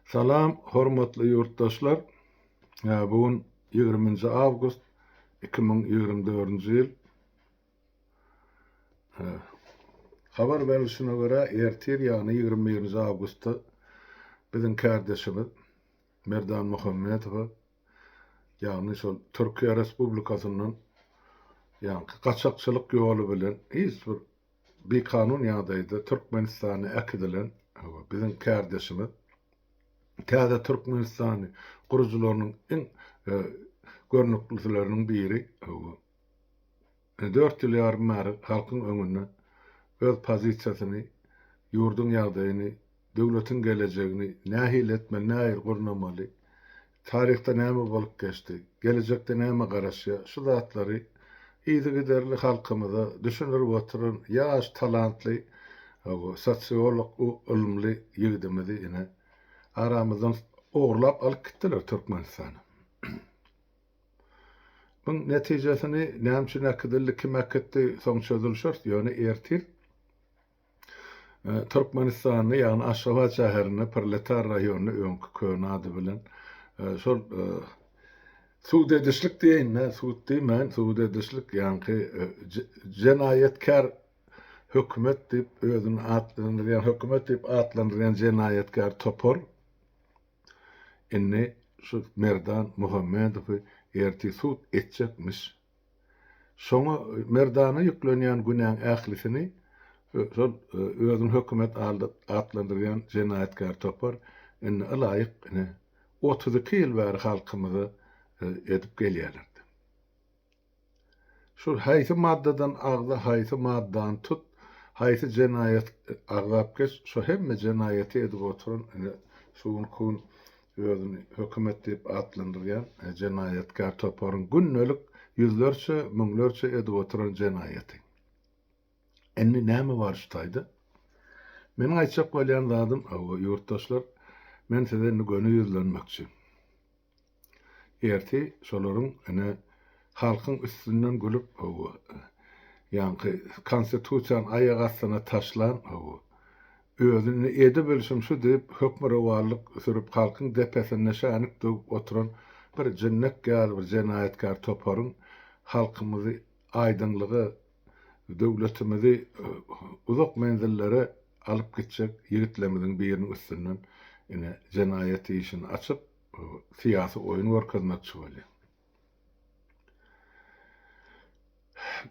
Salam hormatly ýurtdaşlar. Bu gün ýigriminji awgust iki müň ýigrimi dördünji ýyl. Habar berilişine görä, ertir ýagny ýigrimi birinji awgustda biziň kärdeşimiz Merdan Muhammedowa ýagny şol Türkiýe Respublikasyndan ýaňky gaçakçylyk ýoly bilen hiç bir Bikanun ýagdaýda Türkmenistana äkidilen we biziň kärdeşimiz täze Türkmenistany gurujylarynyň iň görnüklisileriniň biri dört ýyl ýarym bäri halkyň öňünde öz pozisiýasyny, ýurduň ýagdaýyny, döwletiň gelejegini nähili etmeli, nähili gurnamaly, Taryhda näme bolup geçdi, gelejekde näme garaşýar, şu zatlary yzygiderli halkymyza düşündirip oturan ýaş talantly sosiolog u ylymly ýigidimizi ine aramyzdan ogurlap alyp gitdiler Türkmenistana. Muň netijesini näme üçin äkidildi, kim äkitdi soň çözülişer ýöne ertir Türkmenistanda, ýagny Aşgabat şäherinde Proletar raýony, öňki köne ady bilen, e, şol e, sud edişlik diýeýin-de, sud diýmän, sud edişlik, ýaňky e, jenaýatkär hökümet diýip özüni atlandyrýan, hökümet diýip atlandyrýan jenaýatkär topar indi şu Merdan Muhammedowy ertir sud etjekmiş. Şoňa merdana ýüklenýän günäň ählisini şol özüni hökümet atlandyrýan jenaýatkär topar indi ylaýyk ine otuz iki ýyl bäri halkymyza edip gelýärlerdi. Şol haýsy maddadan agza haýsy maddany tut haýsy jenaýat agzap geç şo hemme jenaýaty edip oturan ine şu gün özüni hökümet diýip atlandyrýan jenaýatkär toparyň gündelik ýüzlerçe, müňlerçe edip oturan jenaýaty. Indi näme bar şu taýda? Meniň aýtjak bolýan zadym, hawa, ýurtdaşlar, men size indi göni ýüzlenmekçi. Ertir şolaryň ene halkyň üstünden gülüp, hawa, ýaňky Konstitusiýany aýak astyna taşlan, hawa, Özüni edebilşim şu diýip, hökmürowanlyk sürüp, halkyň depesinde şänik döwüp oturan bir jinnek ýaly bir jenaýatkär toparyň halkymyzy aýdyňlyga, döwletimizi uzak menzillere alyp gitjek ýigitlerimiziň biriniň üstünden ine jenaýat işini açyp, syýasy oýun görkezmekçi bolýar.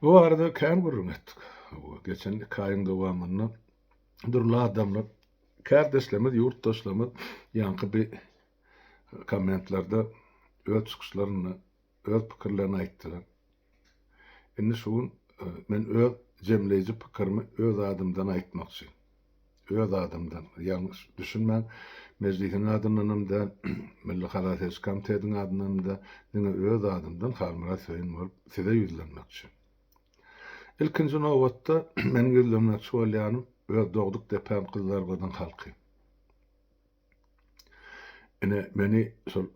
Bu barada kän gürrüň etdik. Geçen iki aýyň dowamynda dürli adamlar, kärdeşlerimiz, ýurtdaşlarymyz ýaňky bi kommentlerde öz çykyşlarynda öz pikirlerini aýtdylar. Indi şu gün e, men öz jemleýji pikirimi öz adymdan aýtmakçy. Öz adymdan, ýalňyş düşünmäň, mejlisiň adyndan hem däl, Milli halas ediş komitetiň adyndan hem däl, diňe öz adymdan Halmyrat Söýün bolup size ýüzlenmekçi. Ilkinji nobatda, meniň ýüzlenmekçi bolýanym öz dogduk depäm Gyzlargyzyň halky. Ine, meni şol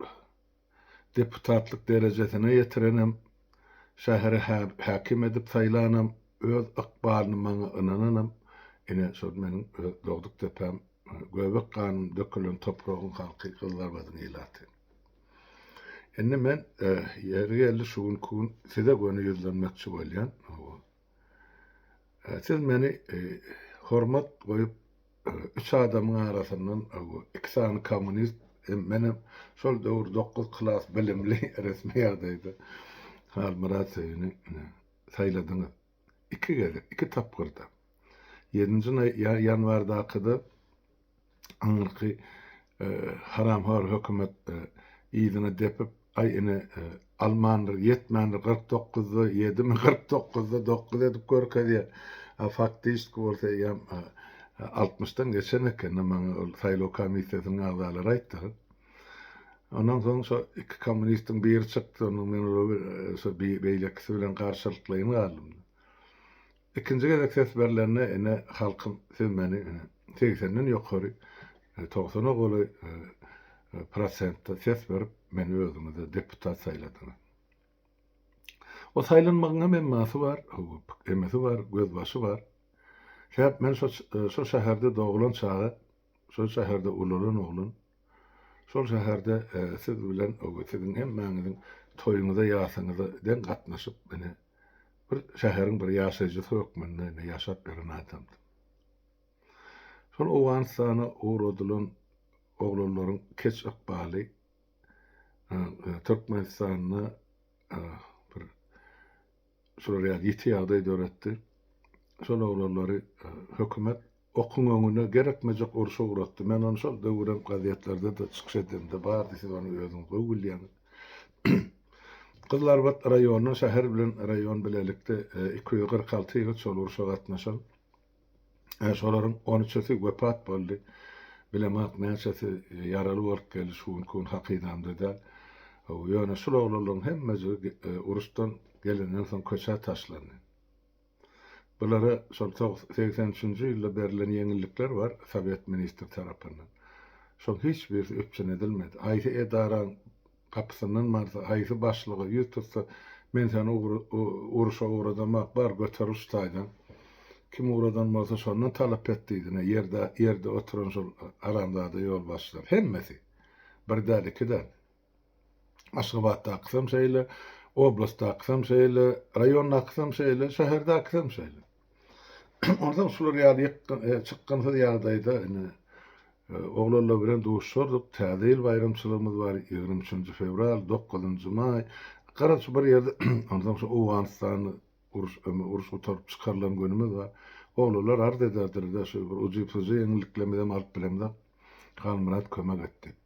deputatlyk derejesine ýetirenem, şähere häkim edip saýlanam, öz ykbalyny maňa ynananam, ine, şol meniň öz dogduk depäm, göbek ganym dökülen topragyň halky, Gyzlargyzyň ilaty. Indi men ýeri geldi şu günki gün size göni ýüzlenmekçi bolýan. Siz meni hormat goýup üç adamyň arasyndan iki sany kommunist hem menem şol döwür dokuz klas bilimli resmi ýagdaýda Halmyrat Söýüni saýladyňyz. iki gezek, iki tapgyrda, ýedinji ýanwardaky-da aňyrky haramhor hökümet yzyna depip, aý ine, almandyr, ýetmändir, kyrk dokuzda ýedimi, kyrk dokuzda dokuz edip görkezýär, a faktişdki bolsa eýýäm altmyşdan geçen eken, maňa ol saýlaw komissiýasynyň agzalary aýtdylar. Ondan soň şo iki kommunistiň biri çykdy, onuň men olar şo beýlekisi bilen garşylyklaýyn galdym. Ikinji gezek ses berlende ine halkyň siz meni ine segsenden ýokary, togsana golaý prosentde ses berip meni özüňize deputat saýladyňyz. O saýlanmagyň hem emmasy bar, emesi bar, gözbaşy bar. Sebäp men şo şo şäherde doglan çaga Şol şäherde ulalan oglan şol şäherde siz bilen siziň hemmäňiziň toýuňyza ýasyňyza deň gatnaşyp ine bir şäheriň bir ýaşaýjysy hökmünde ine ýaşap ýören adamdy. Şol Owganystana ugradylan oglanlaryň keç ykbaly Türkmenistanda bir Şular ýaly ýiti ýagdaý döretdi. Şol oglanlary hökümet okuň öňüne gerekmejek urşa ugratdy. Men ony şol döwürem gazetlerde-de çykyş edemde bardy, siz ony özüňiz gowy bilýäňiz. Gyzlarbat raýonyndan şäher bilen raýon bilelikde iki ýüz kyrk alty ýigit şol urşa gatnaşan. Şolaryň on üçüsi wepat boldy. Bilemok, näçesi ýaraly bolup geldi, şu günki gün hakydamda däl. Ýöne şul oglanlaryň hemmejigi uruşdan gelenden soň köçä taşlandy. Bulara şol segsen üçünji ýylda berlen ýeňillikler bar, sowet ministri tarapyndan. Şoň hiç birisi üpjün edilmedi. Haýsy edaraň Gapysyndan barsa, haýsy başlyga ýüz tutsa, Men seni uruşa ugrazamak bar, göter uç taýdan. Kim ugradan bolsa, şondan talap et diýdi-ne, ýerde oturan şol haramzada ýolbaşçylar. Hemmesi. Bir däl, iki däl. Aşgabatdakysam şeýle, oblastdakysam şeýle, raýondakysam şeýle, şäherdäkisem şeýle. Onsoň şular ýaly çykgynsyz ýagdaýda ine oglanlar bilen duşardyk. Täze ýyl baýramçylygymyz bar, ýigrimi üçünji fewral, dokuzynjy maý. Gara şu bir ýerde onsoň şu Owganystanly uruş ömi uruş gutaryp çykarylan günümiz bar. Oglanlar arz ederdiler-de, şu bir ujy-pujy ýeňilliklermizem alyp bilemzok. Halmyrat kömek et diýip.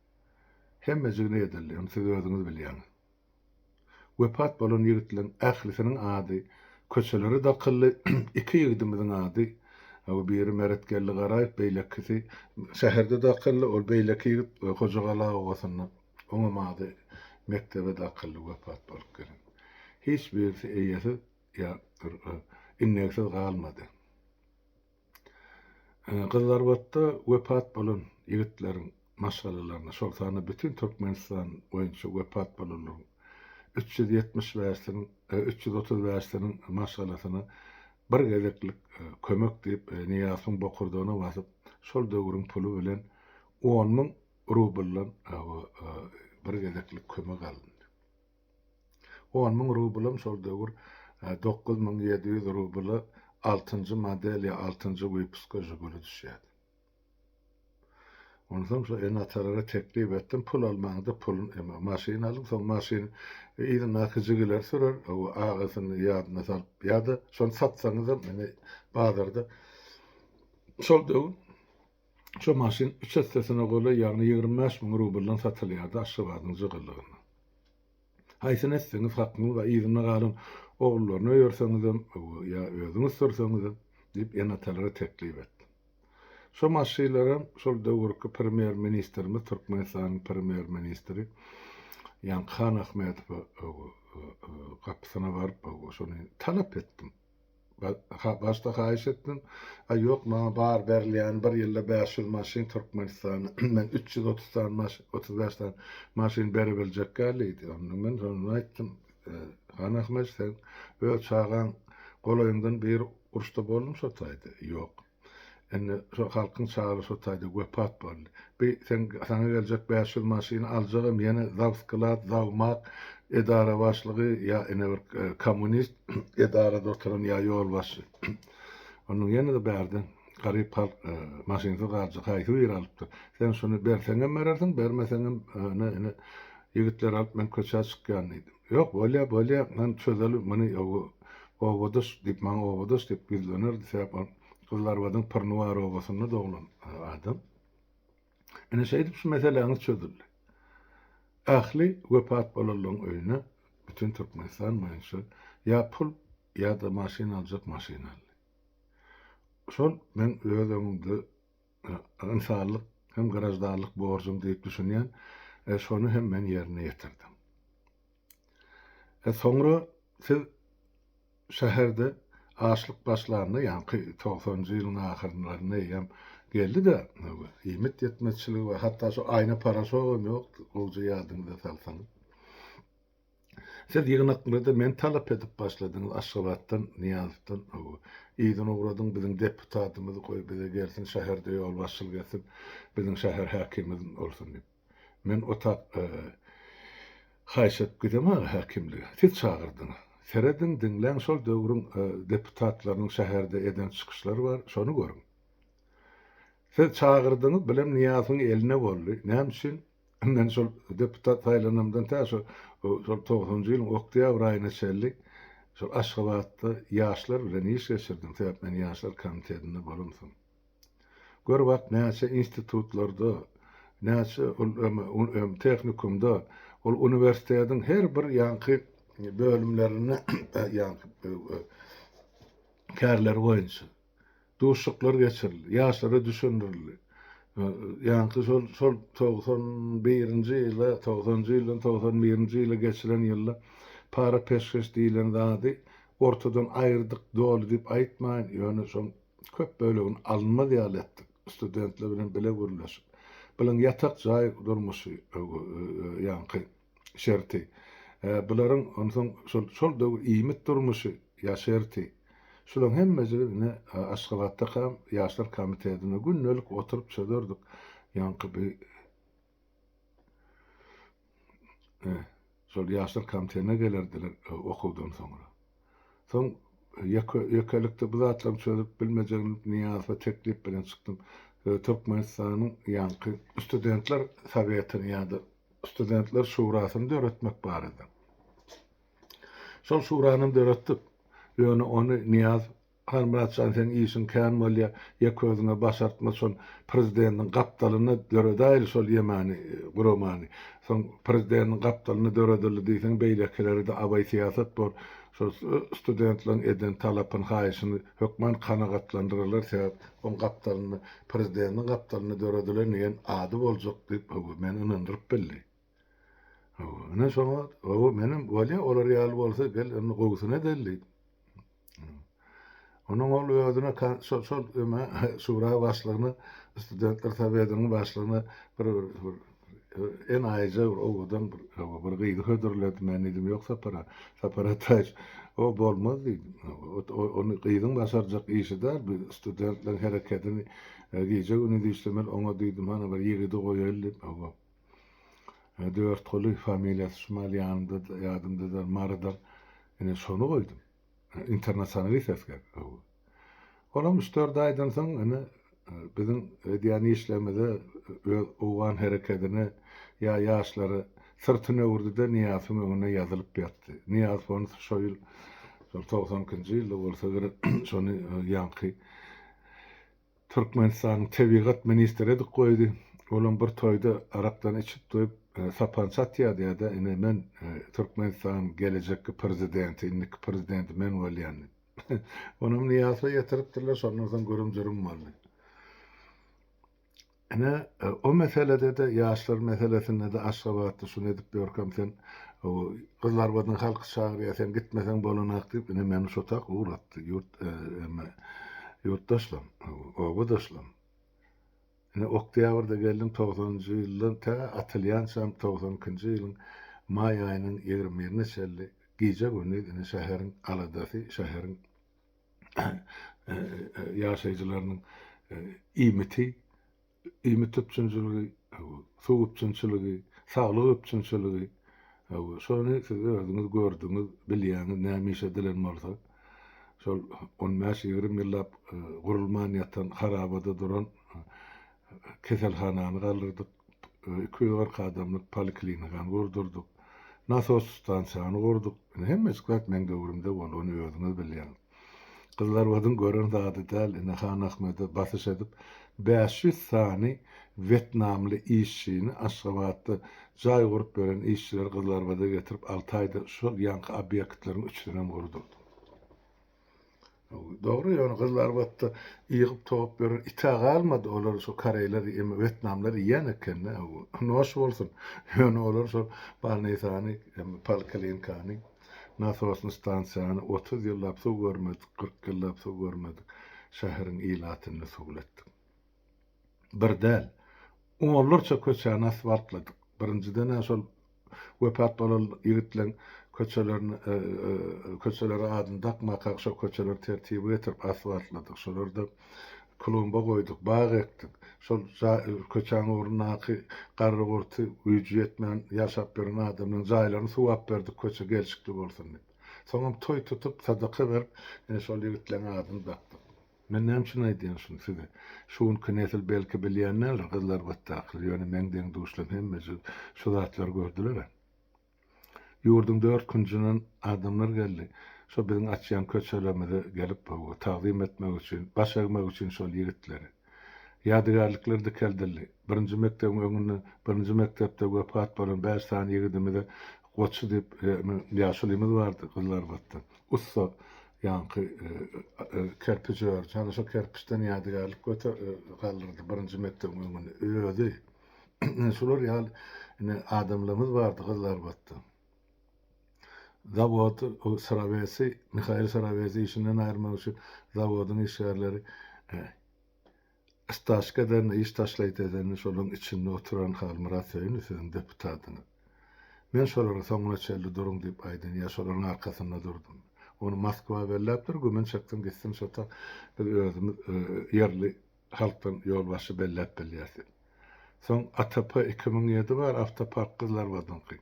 Hemmejigine edildi. Indi siz özüňiz bilýäňiz. Wepat bolan ýigitleriň ählisiniň ady köçelere dakyldy, iki ýigidimiziň ady, biri Meretgeldi Garaýew, beýlekisi, şäherde dakyldy, ol beýleki ýigit Hojagala obasynda, oňam ady mekdebe dakyldy, wepat bolup gelen. Hiç birisi eýesiz ýa indeksiz galmady. Gyzlarbatda wepat bolan ýigitleriň maşgalalaryna, şol sanda bütin Türkmenistan boýunça wepat bolanlaryň üç ýüz ýetmiş bäşiniň, üç ýüz otuz bäşiniň maşgalasyna bir gezeklik kömek diýip, Nyýazowyň bokurdagyna basyp, şol döwrüň puly bilen on müň rubldan bir gezeklik kömek alyndy. On müň rublam şol döwür dokuz müň ýedi ýüz rubla altynjy model ýa altynjy wypuska Žiguli düşýärdi. Onsoň şo ene-atalara teklip etdim, pul almaňda pul maşyn alyň, soň maşyn yzyndaky jigiler sürer, agasyny ýadyna salyp ýa-da şony satsaňyzam indi bazarda şol döwür Şu maşyn üç essesine golaý, ýagny ýigrimi bäş müň rubldan satylýardy Aşgabadyň jygylygynda. Haýsyny etseňiz hakyňyz bar, yzynda galan ogullaryna öýerseňizem ýa özüňiz sürseňizem, diýip, ene-atalara teklip etdim. Şu maşylaram şol döwürki premýer ministrimiz, Türkmenistanyň premýer ministri Ýaňky Hanahmedowa gapysyna baryp, şony talap etdim. Başda haýyş etdim. A ýok, maňa bar berilýäni bir ýylda bäş ýüz maşyn Türkmenistana. Men üç ýüz otuz sany, otuz bäş sany maşyn berebiljek däldiýdi. Onda men şonda aýtdym, Han Ahmet, sen öz çagaň golaýyňdan biri uruşda boldumyşa taýda? Ýok. Indi şo halkyň çary şo taýda wepat boldy. Bi seň saňa geljek bäş ýüz maşyny aljagam ýene zawsklad, zawmak, edara başlygy ýa ine bir kommunist edarada oturan ýa ýolbaşçy. Onuň ýene-de bärde garyp halk maşynsyz galjak haýsy biri alypdyr. Sen şuny berseňem berersiň, bermeseňem ine ýigitleri alyp men köçä çykýan diýdi. Ýok, bolýa, bolýa, men çözelim muny, owo, obadaş diýip, maňa obadaş diýip ýüzlenerdi, sebäp ol Gyzlarbadyň Pyrnuwar obasynda doglan adam. Ine, şeýdip şu meseläňiz çözüldi. Ähli wepat bolanlaryň öýüne bütin Türkmenistan boýunça ýa pul, ýa-da maşyn aljak maşyn aldy. Şol meň öz öňümde ynsanlyk hem graždanlyk borjum diýip düşünýän, şony hem men ýerine ýetirdim. Soňra siz şäherde açlyk başlanda, ýaňky togsanjy ýylyň ahyrlarynda eýýäm geldi-de, iýmit ýetmezçiligi we hatda şu aýna-paraşogam ýokdy, gowja ýadyňyza salsaňyz. Siz ýygnaklarda meni talap edip başladyňyz Aşgabatdan Nyýazowdan hawa. Yzyna ugradyň biziň deputatymyz goý bize gelsin şäherde ýolbaşçylyk etsin biziň şäher häkimimiz bolsun diýip. Men o tak haýyş edip gidemok aga häkimlige. Siz çagyrdyňyz. Serediň diňläň şol döwrüň deputatlarynyň şäherde eden çykyşlary bar şony görüň. Siz çagyrdyňyz bilem Nyýazowyň eline boldy. Näme üçin? Men şol deputat saýlanamdan tä şo şol togsanjy ýylyň oktýabr aýyna çenli şol Aşgabatda ýaşlar bilen iş geçirdim, sebäp men ýaşlar komitetinde bolamsoň. Gör wagt näçe institutlarda, näçe ol em tehnikumda, ol uniwersitetiň her bir ýaňky bölümlerinde ýaňky kärleri boýunça. duşuşyklar geçirildi, ýaşlara düşündirildi. Ýaňky şol şol togsan birinji ýyla, togsanjy ýyldan togsan birinji ýyla geçilen ýylda para peşgeş diýlen zady ortadan aýyrdyk doly diýip aýtmaýyn, ýöne şoň köp bölegini alynmaz ýaly etdik, studentler bilen bile gürleşip. Bilen ýatak jaý durmuşy ýaňky. şerti. Ä bularyň onsoň şol şol döwür iýmit durmuşy ýa şerti. Şulaň hemmejigi ine Aşgabatdakam ýaşlar komitetinde gündelik oturyp çözerdik. Ýaňky bi şol ýaşlar komitetine gelerdiler okuwdan soňra. Soň ýeke-ýekelikde bu zatlaryň çözülip bilmejegini bilip, Nyýazowa teklip bilen çykdym. Türkmenistanyň ýaňky Studentler Sowetini ýa-da Studentler Şurasyny döretmek barada. Şol Şurany hem döretdik. Ýöne ony Nyýaz Halmyratjan seň işiň kän bolýa ýek özüňe başartma şol prezideniň gapdalyna döredäýli şol ýemany guramany soň prezideniň gapdalyna döredildi diýseň beýlekileride abaý syýasat bor şol studentleň eden talapyn haýyşyny hökman kanagatlandyrarlar sebäp oň gapdalyna prezideniň gapdalyna döredilen diýen ady boljak diýip höwa meni ynandyryp bildi. Hawa, ine şoňa, hawa, menem, bolýa, olar ýaly bolsa, gel, indi gowusyny edeli diýip. Onuň ol özüne kan, şol, şol öme, şura başlygyna, studentler sowetiniň başlygyna bir, bir, bir, bir enaýyja bir owadan bir, hawa, bir gyzy hödürledi. Men diýdim, ýok, Sapar, Sapar Ataýewiç, o bolmaz diýdim. Hawa, ot, o, ony gyzyň başarjak işi däl, biz studentleriň herekedini gije-gündiz işlemeli, oňa diýdim, hany bir ýigidi goýaýly diýip, hawa. He Dörtguly familiýasy şumal ýanymda ýadymdadyr Marydyr ine şony goýdum. Internasionalist esger öwgi. Olam üç dört aýdan soň ine biziň edýän işlerimize öz owgan herekedine ýa ýaşlara syrtyny öwürdide Nyýasyň öňüne ýazylyp ýatdy. Nyýaz hony şo ýyl şol togsan ikinji ýylda bolsa gerek şony ýaňky Türkmenistanyň tebigat ministri edip goýdy. Olam bir toýda arakdan içip-toýup, sapança atýardy ýa-da ine men Türkmenistanyň gelejekki prezidenti, indiki prezidenti men bolýan diýip. Onam Nyýazowa ýetiripdirler, şondan soň gürüm-jürüm boldy. Ine, o meselede-de, ýaşlar meselesinde-de aşgabatly şuny edip ýörkäm, sen Gyzlarbadyň halky çagyrýar, sen gitmeseň bolanok diýip, ine, meni şo tak ugratdy. Ýurt, emme, ýurtdaşlam, obadaşlam. Ine, oktýabrda geldim, togsanynjy ýyldan tä atylýançam, togsan ikinji ýylyň maý aýynyň ýigrimi birine çenli gije-gündiz, ine, şäheriň aladasy, şäheriň. ýaşaýjylarynyň iýmiti, iýmit üpjünçiligi, suw üpjünçiligi, saglyk üpjünçiligi, şony siz özüňiz gördüňiz, bilýäňiz, näme iş edilen bolsa, şol on bäş, ýigrimi ýyllap gurulman ýatan, harabada duran keselhanany galdyrdyk. iki ýüz kyrk adamlyk poliklinikany gurdurdyk, nasos stansiýany gurduk. Indi hemmejik zat meň döwrümde boldy, ony özüňiz bilýäňiz. Gyzlarbadyň gören zady däl, indi Hanahmede basyş edip, bäş ýüz sany wetnamly işçini Aşgabatda jaý gurup beren işçileri Gyzlarbada getirip, alty aýda şol ýaňky obýektleriň üçüsinem gurdurdym. Dogry ýöne gyzly arbatda ýygyp towup beren itä galmady olar şo koreýler ýeme wetnamlar ýýän ekende noş bolsun ýöne olar şol balnisany emme polklinkany nasosny stansiýany otuz ýyllap suw görmedik kyrk ýyllap suw görmedik şäheriň ilatynda suwlatdyk. Bir däl, onlarça köçäni asfaltladyk. Birinjiden-ä şol wepat bolan ýigitleň köçelerini, köçelere adyny dakmakak şo köçeleri tertibe getirip asfaltladyk. Şolarda klumba goýduk, bag ekdik. Şol köçäň ugrundaky garry-gurty, güýji ýetmän ýaşap ýören adamlaryň jaýlaryny suwap berdik, köçe gelşikli bolsun diýip. Soňam toý tutup, sadaka berip, ine şol ýigitleň adyny dakdyk. Men näme üçin aýdýan şuny size? Şu günki nesil belki bilýän däldir, gyzlar batdakyl, ýöne meň deň-duşlarym hemmeje şu zatlary gördüler-ä. Ýurduň dört künjünden adamlar geldi. Şo biziň açýan köçelerimize gelip, hawa, tagzym etmek üçin, baş egmek üçin şol ýigitleri. Ýadygärlikler dikeldildi. Birinji mekdebiň öňünde birinji mekdepde wepat bolan bäş sany ýigidimize goçy diýip, ýaşulymyz bardy, gyzlarbatda. Ussa ýaňky kerpij ördi. Hany şo kerpiçden ýadygärlik göter, galdyrdy birinji mekdebiň öňüni. Özi. Ine şular ýaly ine adamlarymyz bardy Gyzylarbatda. Zawod Srawesi, Mihail Srawesi işinden aýyrmak üçin zawodyň işgärleri Istaşka eden, iş taşlaýt edeni şolaň içinde oturan Halmyrat Söýünow siziň deputatyňyz. Men şolara soňuna çenli duruň diýip aýdyn ýa şolaryň arkasynda durdum. Ony Moskwa belläpdir, gümün çekdim gitsin şota biz özümiz ýerli halkdan ýolbaşçy belläp bilýäs diýip. Soň ATP iki müň ýedi bar, Awtopark Gyzlarbadyňky.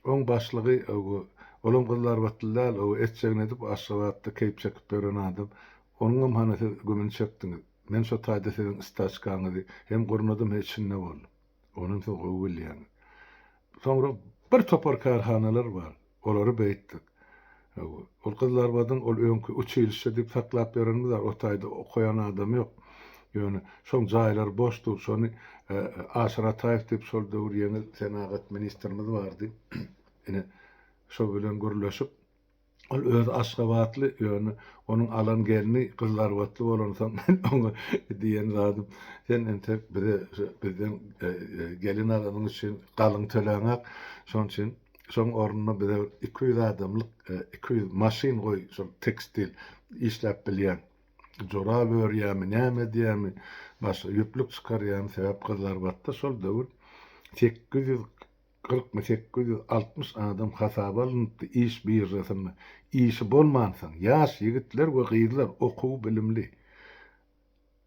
Oň başlygy ogu olam gyzlarbatly däl, ogu etjegini edip Aşgabatda keýp çekip ýören adam. Onuňam hany siz gümün çekdiňiz. Men şo taýda siziň istaçkaňyzy hem gurnadym he içinde bol. Onam siz gowy bilýäňiz. Soňra bir topar kärhanalar bar. Olary beýtdik. Hawa. Ol Gyzlarbadyň ol öňki uçilişşe diýip saklap ýörenimiz bar. O taýda okaýan adam ýok. Ýöne şoň jaýlary boş dur. Şony Aşyr Ataýew diýip şol döwür ýeňil senagat ministrimiz bardy. Ine şo bilen gürleşip. Ol özi aşgabatly, ýöne onuň alan gelni gyzlarbatly bolansoň, men oňa diýen zadym, Sen entek bize şu bizden gelin alanyň üçin galyň töläňok, şonuň üçin şoň ornuna bize bir iki ýüz adamlyk iki ýüz maşyn goý, şol tekstil işläp bilýän, jorap örýärmi, näme edýärmi, başga ýüplük çykarýarmy, sebäp gyzlarbatda şol döwür sekiz ýüz Kyrk mi sekiz ýüz altmyş adam hasaba alnypdy iş biržasynda işi bolmansoň ýaş ýigitler we gyzlar okuw bilimli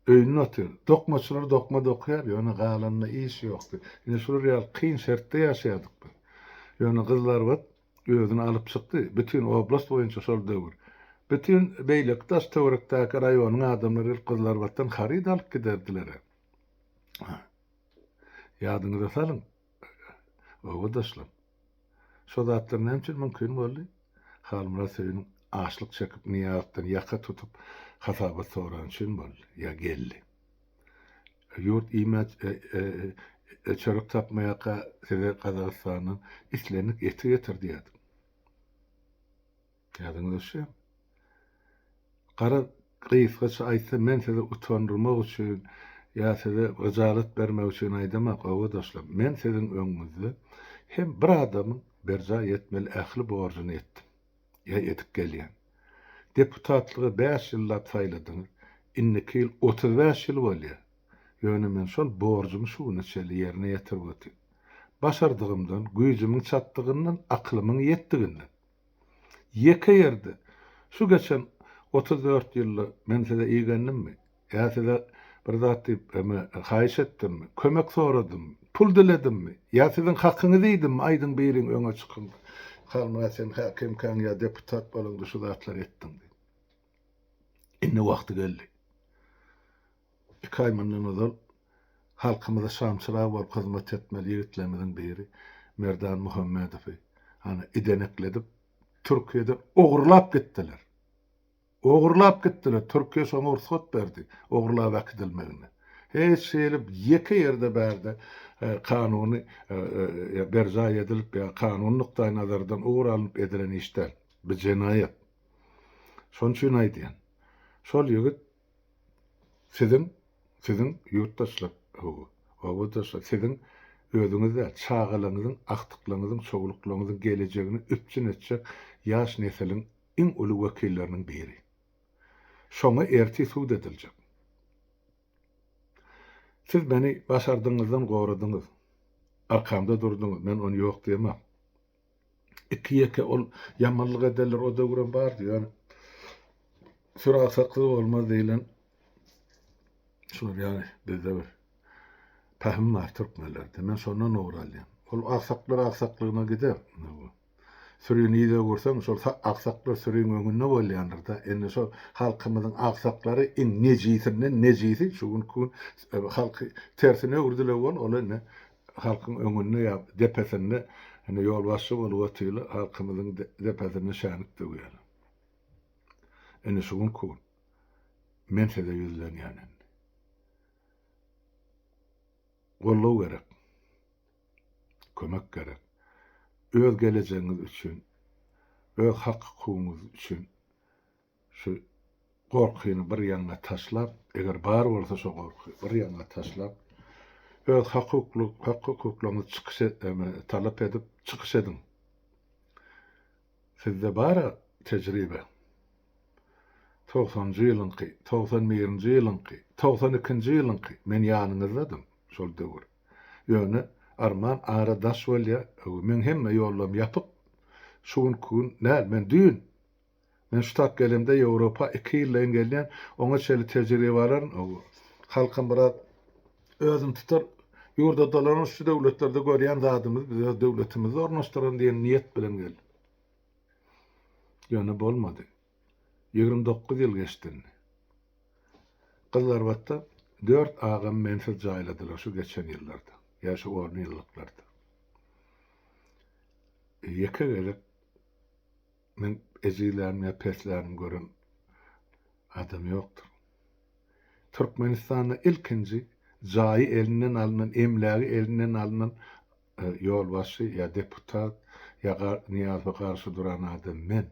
öýünde otyr dokmaçylar dokma dokýar ýöne galanyna iş ýokdy ine şular ýaly kyn şertde ýaşaýardyk biz ýöne gyzlarbat özüni alyp çykdy bütin oblast boýunça şol döwür bütin beýleki daş töwerekdäki raýonyň adamlary gelip gyzlarbatdan haryt alyp giderdiler he ýadyňyza salyň. Obadaşlar, şo zatlar näme üçin mümkin boldy? Halmyrat Söýün açlyk çekip Nyýazdan ýaka tutup hasabat sorany üçin boldy, ýa geldi. Ýurt iýmän çörek tapmaýarka size Gazagystandan islendik eti getir diýerdik. Kädiňiz eşem. Gara gysgaça aýtsam men sizi utandyrmak üçin ýa size hyjalat bermek üçin aýdamak obadaşlar. Men siziň öňüňizde hem bir adamyň berjaý etmeli ähli borjuny etdim. Ýa edip gelýän. Deputatlyga bäş ýyllap saýladyňyz. Indiki ýyl otuz bäş ýyl bolýar. Ýöne men şol borjumy şu güne çenli ýerine ýetirip otyryn. Başardygymdan, güýjümiň çatdygyndan, aklymyň ýetdiginden. Ýeke ýerde, Şu geçen otuz dört ýylda men size igendimmi? Ýa size bir zat diýip, eme, haýyş etdimmi? Kömek soradymmy? Pul diledimmi? Ýa siziň hakyňyzy iýdimmi? Aýdyň, biriň, öňe çykyň. Halmyrat, sen häkimkäň ýa deputat bolaňda şu zatlary etdiň diýip. Indi wagty geldi. Iki aý mundan ozal halkymyza şamçyrag bolup hyzmat etmeli ýigitlerimiziň biri Merdan Muhammedowy ana idenekledip Türkiýeden ogurlap gitdiler. Ogurlap gitdiler, Türkiýe şoňa rugsat berdi ogurlap äkidilmegine. Hiç hili ýeke ýerde bärde kanuny berjaý edilip ýa kanuny nukdaý nazardan ugur alnyp edilen iş däl. Bu jenaýat. Şonuň üçin aýdýan. Şol ýigit Siziň, siziň ýurtdaşlar, hawa, obadaşlar, siziň özüňiz däl, çagalaryňyzyň, agtyklaryňyzyň, çowluklaryňyzyň gelejegini üpjün etjek ýaş nesiliň iň uly wekilleriniň biri. Şoňa ertir sud ediljek. Siz meni başardygyňyzdan goradyňyz. Arkamda durduňyz, men ony ýok diýemok. Iki-ýeke ol ýamanlyk ederler, o döwrem bardy, ýöne süragsakyz bolmaz diýlen şular ýaly bizde bir pähim bar türkmenlerde. Men şondan ugur alýan. Ol aksaklar aksaklygyna gider. Sürini ýüze görseň, şol aksaklar süriň öňünde bolýandyrda. Indi şol halkymyzyň aksaklary iň nejisinden nejisi şu günki gün halky tersine öwürdiler bol, ol indi halkyň öňünde ýa depesinde ine ýolbaşçy bolup otyly halkymyzyň depesinde şänik döwýäler. Ine şu günki gün men size ýüzlenýän indi. Goldaw gerek. Kömek gerek. Öz gelejegiňiz üçin, öz hak-hukugyňyz üçin Şu gorkyny bir ýaňa taşlap, eger bar bolsa şo gorky, bir ýaňa taşlap, öz hak-hukukly, hak-hukuklaryňyzy çykyş et, eme, talap edip, çykyş ediň. Sizde bar-a tejribe. Togsanjy ýylyňky, togsan birinji ýylyňky, togsan ikinji ýylyňky, men ýanyňyzdadym şol döwür. Ýöne, arman ara daş bolýar, öwi, meň hemme ýollarym ýapyk. Şu günki gün däl, men düýn, Men şu tap gelemde Ýewropa iki ýyldaýyn gelýän, oňa çenli tejribe alan, halkym biraz özüni tutar, ýurda dolanan şu döwletlerde görýän zadymyzy biz öz döwletimizde ornaşdyralım diýen niýet bilen geldim. Ýöne bolmady. Ýigrimi dokuz ýyl geçdi indi. Gyzlarbatda dört agamy mensiz jaýladylar şu geçen ýyllarda, ýa şu onýyllyklarda. Ýeke gezek Meň ejilänim ýa peslänim gören adam ýokdur. Türkmenistanda ilkinji jaýy elinden alnan, emlägi elinden alnan ýolbaşçy ýa deputat ýa Nyýazowa garşy duran adam men.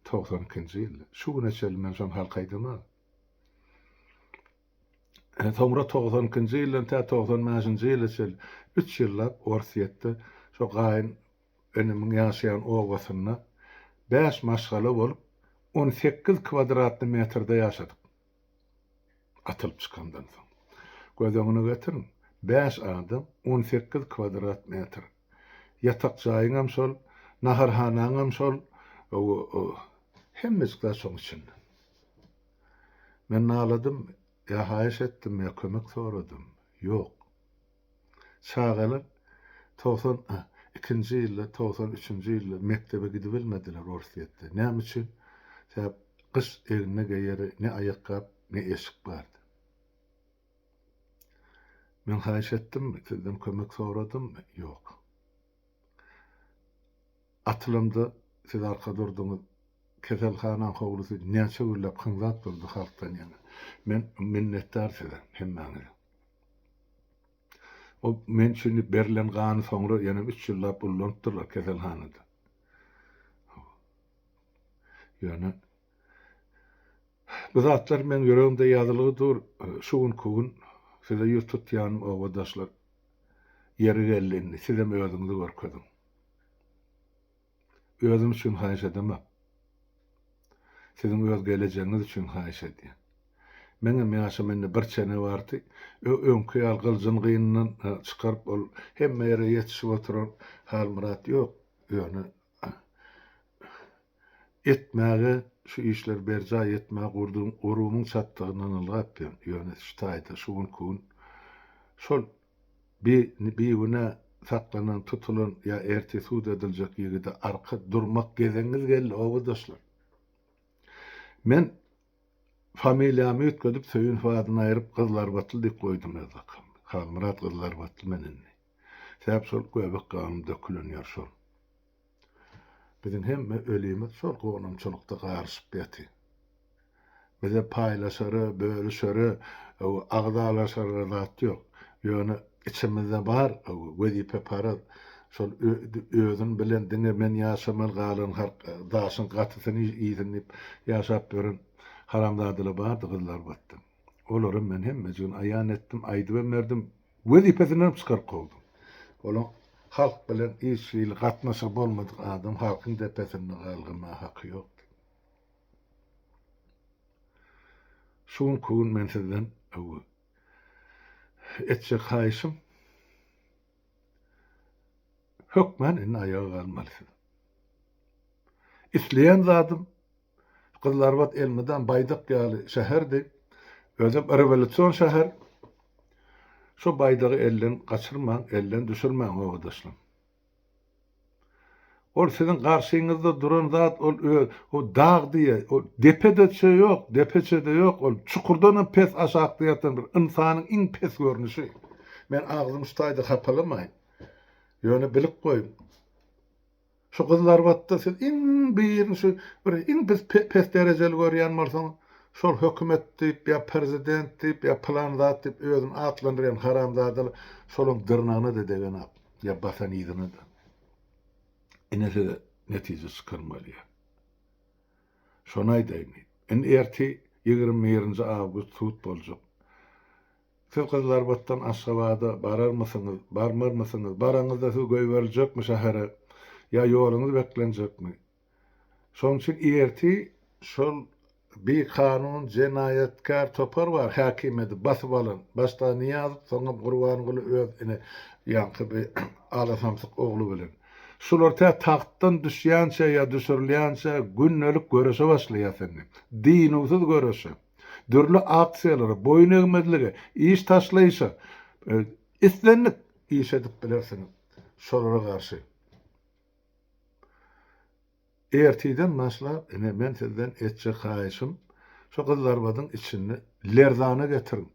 Togsan ikinji ýylda. Şu güne çenli men şony halka aýdamok. Soňra togsan ikinji ýyldan tä togsan bäşinji ýyla çenli üç ýyllap Orsýetde şo gaýyn Enemiň ýaşaýan obasynda bäş maşgala bolup, on sekiz kwadratny metrde ýaşadyk. Atylyp çykandan soň. Göz öňüne getiriň, bäş adam, on sekiz kwadrat metr. Ýatak jaýyňam şol, naharhanaňam şol, hemmejik zat şoň içinde. Men naladym, ýa haýyş etdim, ýa kömek soradym, ýok. Çagalar togsan ikinji ýylda, togsan üçünji ýylda mekdebe gidibilmediler Orsýetde. Näme üçin? Sebäp gyş egnine geýere ne aýakgap, ne eşik bardy. Men haýyş etdimmi, sizden kömek soradymmy? Ýok. Atylamda siz arka durduňyz. Keselhanaň howlusy näçe günläp hyňzap durdy halkdan ýaňa. Men minnetdar size, hemmäňize. Ol men üçin berilen gany soňra ýene üç ýyllap ullanypdyrlar keselhanada. Ýöne bu zatlar meň ýüregimde ýazylygy dur. Şu günki gün size ýüz tutýanym obadaşlar. Ýeri geldi indi sizem özüňizi görkeziň. Özüm üçin haýyş edemok. Siziň öz gelejegiňiz üçin haýyş edýän. Meňem ýaşym indi bir çene bardy. Ö-öňki ýaly gyljyny gynyndan çykaryp, ol hemme ýere ýetişip oturan Halmyrat ýok. Ýöne etmäge, şu işleri berjaý etmäge gurduň-gurumyň çatdygyndan ylgapdyryn. Ýöne şu taýda şu günki gün şol Bi bigünä saklanan, tutulan ýa ertir sud ediljek ýigide arka durmak gezegiňiz geldi, obadaşlar. Men familiýamy üýtgedip Söýünow adyny aýryp Gyzlarbatly diýip goýdum öz lakabym. Halmyrat Gyzlarbatly men indi. Sebäbi şol göbek ganym dökülen ýer şol. Biziň hemme ölimiz şol gonamçylykda garyşyp ýaty. Bize paýlaşara, bölüşere, agzalaşara zat ýok. Ýöne içimizde bar, wezipeparaz, şol özüni bilen diňe men ýaşamaly galan halk, daşyň gatysyny iýsin diýip ýaşap ýören haramzadalar bardy gyzlar batdan. Olaram men hemmejigini aýan etdim, aýdybem berdim. Wezipesinden çykaryp kowdum. Ol halk bilen hiç hili gatnaşygy bolmadyk adam, halkyň depesinde galgamaga haky ýokdy. Şu günki gün men sizden öwi etjek haýyşym, hökmän indi aýaga galmaly siz. Isleýän zadym Gyzylarbat elmydam baýdak ýaly şäherdi. Özem rewolýusion şäher. Şu baýdagy elden gaçyrmaň, elden düşürmäň, obadaşlaň. Ol siziň garşyňyzda duran zat ol öz, o dag diýe, o depe-de ýok, depeçe-de ýok, ol çukurdan hem pes aşakda ýatan bir ynsanyň iň pes görnüşi. Men agzymy şu taýda hapalamaýyn. Ýöne bilip goýuň. Şu gyzlar batda siz iň birin şu bir iň biz pes derejeli görýän bolsaň şol hökümet diýip ýa prezident diýip ýa pylan zat diýip özüni atlandyrýan haramzadalar şolaň dyrnagyna-da degenok ýa basan yzyna-da. Ine size netije çykan bolýar. Şony aýdaýyn. Indi ertir ýigrimi birinji awgust sud boljak. Siz Gyzlarbatdan Aşgabada bararmysyňyz, barmarmysyňyz, baraňyzda siz goýberiljekmi şähere, ýa ýoluňyz beklenjekmi? Şonuň üçin ertir şol bikanun, jenaýatkär topar bar häkimiýeti basyp alan, başda Nyýazow, soňam Gurbanguly öz ine ýaňky bi alasamsyk ogly bilen. Şular tä tagtdan düşýänçä ýa düşürilýänçä gündelik göreşe başlaýas indi. Dynuwsyz göreşe. dürli aksiýalara, boýun egmezlige, iş taşlaýşa, islendik iş edip bilersiňiz. Şolara garşy ertirden başlap, ine, men sizden etjek haýyşym, şo gyzlarbadyň içini lerzana getiriň.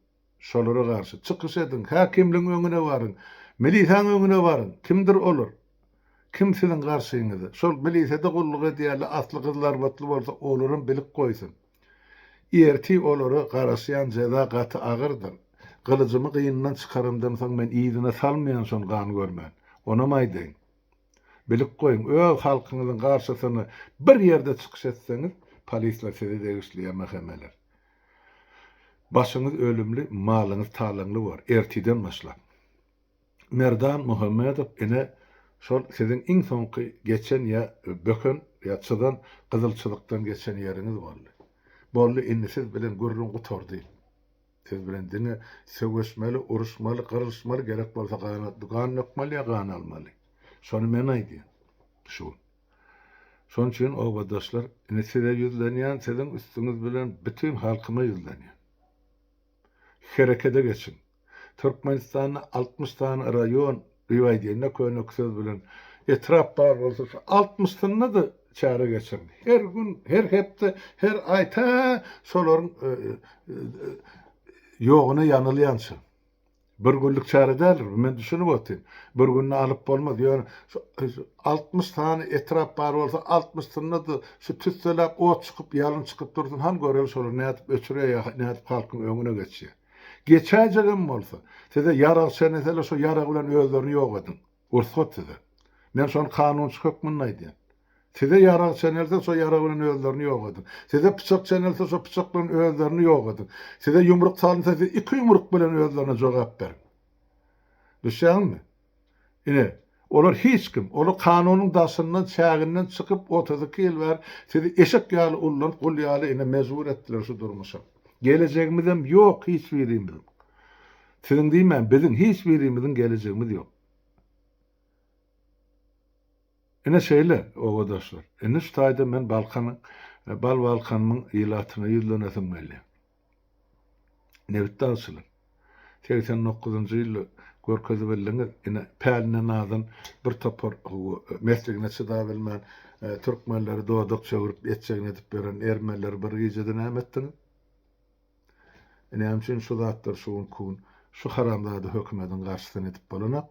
Şolara garşy çykyş ediň, häkimligiň öňüne baryň, milisýaň öňüne baryň. Kimdir olar? Kim siziň garşyňyza? Şol milisýada gulluk edýärler, asly gyzlarbatly bolsa, olaram bilip goýsun. Ertir olara garaşýan jeza gaty agyrdyr. Gylyjymy gynyndan çykaramdan soň men yzyna salmaýan şony gan görmän. Onam aýdaýyn. Bilip goýuň, öz halkyňyzyň garşysyna bir ýerde çykyş etseňiz, polisler size degişli ýa mhmler. Başyňyz ölümli, malyňyz talaňly bor, ertiden başlap. Merdan Muhammedow ine, şol siziň iň soňky geçen ýa böken ýa çyzan gyzyl çyzykdan geçen ýeriňiz boldy. Boldy, indi siz bilen gürrüň gutardy. Siz bilen diňe söweşmeli, uruşmaly, gyrylyşmaly, gerek bolsa gan dökmeli ýa gan almaly. Şony men aýdýan. Şu. Şonuň üçin obadaşlar, indi size ýüzlenýän, siziň üstüňiz bilen bütin halkyma ýüzlenýän. Herekede geçiň. Türkmenistanda altmyş sany raýon, diýip aýdanda könek söz bilen, etrap bar bolsa, şu altmyşyna-da çäre geçiriň. Her gün, her hepde, her aý tä şolaryň ýogyna ýanylýança. Bir günlik çäre däldir bu, men düşünip otyryn. Bir günde alyp bolmaz. Ýöne şu altmyş sany etrap bar bolsa, altmyşsynda-da şu tüsseläp ot çykyp, ýalyn çykyp dursun, hany göreli şolar nädip öçürýär, nädip halkyň öňüne geçýär. Geçäýjegem bolsa, size ýarag çenese-le, şo ýarag bilen özlerini ýok ediň. Rugsat size. Men şony kanunçy hökmünde aýdýan. Size ýarag çenelse, şo ýarag bilen özlerini ýogadyň. Size pyçak çenelse, şo pyçak bilen özlerini ýogadyň. Size ýumruk salynsa, siz iki ýumruk bilen özlerine jogap beriň. Düşýäňizmi? Ine, olar hiç kim, olar kanunyň daşyndan, çäginden çykyp, otuz iki ýyl bäri sizi eşek ýaly ullanyp, gul ýaly ine mejbur etdiler şu durmuşa. Gelejegimizem ýok hiç birimiziň. Siziň diýmän biziň hiç birimiziň gelejegimiz ýok. Ine şeýle, obadaşlar. Indi şu taýda men Balkan, Bal Balkanymyň ilatyna ýüzlenesim gelýär. Nebitdagçylar, segsen dokuzynjy ýylda görkezibildiňiz, ine, päline nazan bir topar mesligine çydabilmän, türkmenleri dodak çöwrüp, etjegini edip ýören ermenileri bir gijede näme etdiňiz? Näme üçin şu zatlar şu günki gün şu haramzada hökümediň garşysyny edip bolanok?